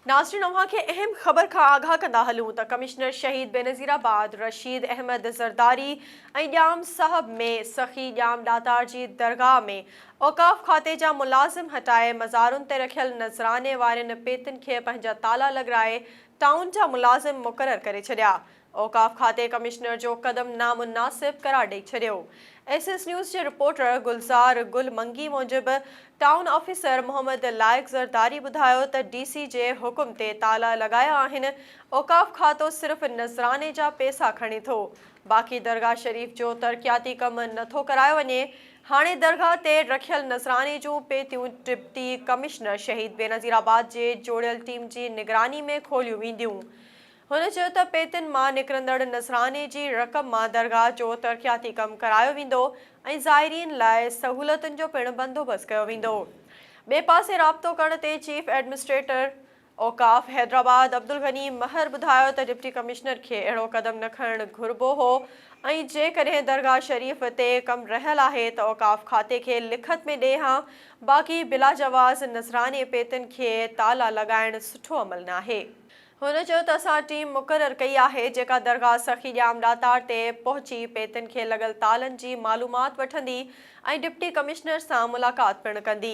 ناظرين اوهان کي اهم خبر کان آگاهه ڪندا هلون ته ڪمشنر شهيد بينظير آباد رشيد احمد زرداري ۽ ڄام صاحب ۾ سخي ڄام ڏاتار جي درگاهه ۾ اوقاف کاتي جا ملازم هٽائي مزارن تي رکيل نذراني وارين پيتين کي پنهنجا تالا لڳرائي ٽائون جا ملازم مقرر ڪري ڇڏيا اوقاف کاتي ڪمشنر جو قدم نامناسب قرار ڏئي ڇڏيو ايس ايس نيوز جي رپورٽر گلزار گل منگي موجب ٽائون آفيسر محمد لائق زرداري ٻڌايو ته ڊي سي جي حڪم تي تالا لڳايا آهن اوقاف کاتو صرف نذراني جا پيسا کڻي ٿو باقي درگاهه شريف جو ترقياتي ڪم نٿو ڪرايو وڃي هاڻي درگاهه تي رکيل نذراني جون پيتيون ڊپٽي ڪمشنر شهيد بينظيرآباد جي جوڙيل ٽيم جي نگراني ۾ کوليون وينديون هن چيو ته پيتن مان نڪرندڙ نذراني جي رقم مان درگاهه جو ترقياتي ڪم ڪرايو ويندو ۽ زائرين لاء سهولتن جو پڻ بندوبست ڪيو ويندو. ٻئي پاسي رابطو ڪرڻ تي چيف ايڊمنسٽريٽر اوقاف حيدرآباد عبدالغني مهر ٻڌايو ته ڊپٽي ڪمشنر کي اهڙو قدم نه کڻڻ گهربو هو ۽ جيڪڏهن درگاهه شريف تي ڪم رهيل آهي ته اوقاف کاتي کي لکت ۾ ڏئي هان باقي بلاجواز نذراني پيتن کي تالا لڳائڻ سٺو عمل ناهي. هن چيو ته اسان ٽيم مقرر ڪئي آهي جيڪا درگاهه سخي ڄام ڏاتار تي پهچي پيتن کي لڳل تالن جي معلومات وٺندي ۽ ڊپٽي ڪمشنر سان ملاقات پڻ ڪندي.